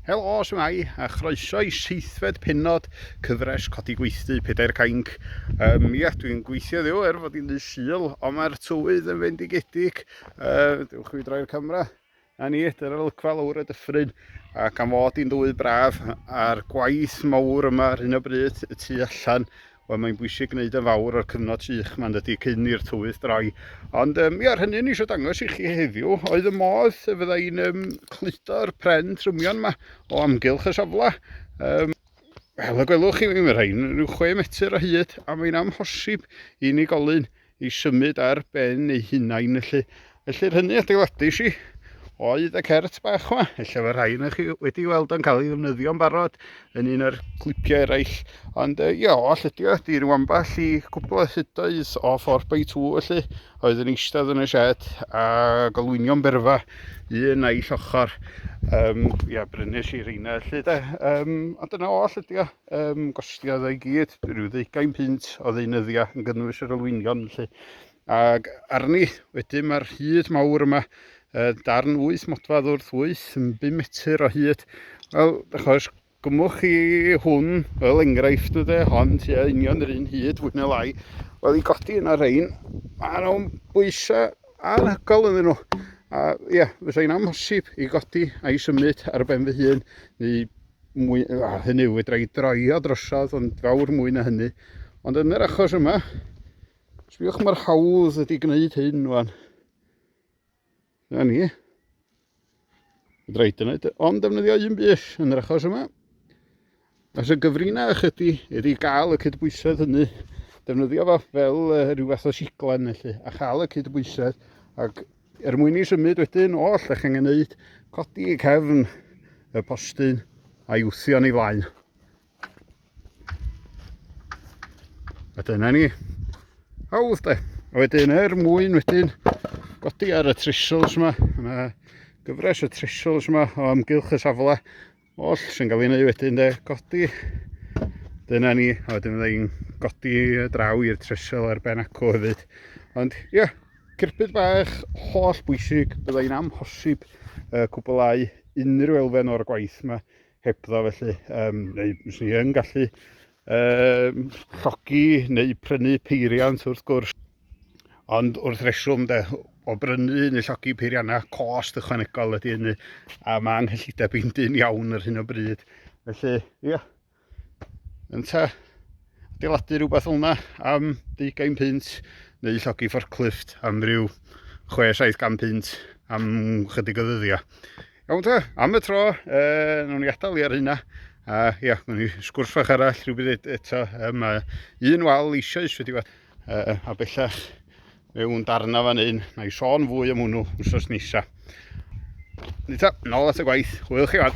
Helo, shwmae, a chroeso i seithfed penod cyfres Codi Gweithdy Pedair Cainc. Um, ia, dwi'n gweithio ddiw er fod i'n ddydd syl, ond mae'r tywydd yn fendigedig. Uh, dewch i droi'r camera. A ni, dyna'r olygfa lawr y dyffryn, a gan fod i'n dywydd braf, a'r gwaith mawr yma ar hyn o bryd y tu allan, Wel mae'n bwysig gwneud yn fawr o'r cyfnod sych ma'n dydy cyn i'r tywydd droi. Ond um, ia, hynny ni eisiau dangos i chi heddiw oedd y modd y fydda i'n um, cludo'r pren trymion yma o amgylch y safle. Um, Wel, y gwelwch chi, mae rhain rhyw chwe metr o hyd a mae'n amhosib i unigolyn i symud ar ben eu hunain felly. Felly'r hynny adeiladais i oedd y cert bach yma. Ella fe rhai yna chi wedi weld o'n cael ei ddefnyddio'n barod yn un o'r clipiau eraill. Ond uh, ia, all ydi o, di rwan bach i gwbl o hydoedd o 4x2 felly, oedd yn eistedd yn y shed a golwynio'n berfa un a'i llochor. Um, ia, brynes i reina felly de. Um, ond dyna all ydi o. Ym gostiodd o i gyd, rhyw ddeugain punt o ddeunyddiau yn gynnwys yr olwynion felly. Ac arni, wedyn mae'r hyd mawr yma, uh, darn wyth modfad wrth wyth yn 5 metr o hyd. Wel, achos gymwch chi hwn fel enghraifft o de, hon tua union yr un hyd fwy na lai. Wel, i godi yna rhain, mae nhw'n bwysau anhygol yn nhw. A ia, fysa hi'n amhosib i godi a'i symud ar ben fy hun, neu mwy, a hynny yw fedra i draio drosodd ond fawr mwy na hynny ond yn yr achos yma sbiwch mae'r hawdd ydi gwneud hyn wan na ni fedra i dyna ond defnyddio un bus yn yr achos yma Os y gyfrinau ychydi ydy gael y cydbwysedd hynny, defnyddio fo fel uh, rhyw fath o siglen felly, a chael y cydbwysedd ac Er mwyn i symud wedyn oll, ych angen wneud codi y cefn y postyn a'i wthio ni flaen. A dyna ni. Hawdd de. A wedyn er mwyn wedyn godi ar y trissels yma, mae gyfres y trissels yma o amgylch y safle Oll sy'n cael ei wneud wedyn de, godi. Dyna ni, a wedyn fydda i'n godi draw i'r tresel ar ben acw hefyd. Ond ie, yeah, cirbyd bach holl bwysig, bydda i'n amhosib uh, cwblau unrhyw elfen o'r gwaith yma hebddo felly, um, neu fyswn i yn gallu Um, llogi neu prynu peiriant wrth gwrs. Ond wrth reswm de, o brynu neu llogi peiriannau, cost ychwanegol ydy hynny, a mae anghyllideb i'n dyn iawn ar hyn o bryd. Felly, ia, yeah, yn ta, adeiladu rhywbeth o'na am 20 pint neu llogi fforclift am ryw 6-7 pint am chydig o ddyddiau. Iawn ta, am y tro, e, nawn ni adael i ar hynna. A ia, nawn ni sgwrs fach arall rhywbryd eto. E, mae un wal eisoes wedi bod e, a bellach mewn darna fan hyn. Na i sôn fwy am hwnnw wrthos nesa. Ni ta, nôl at y gwaith. Hwyl chi fan.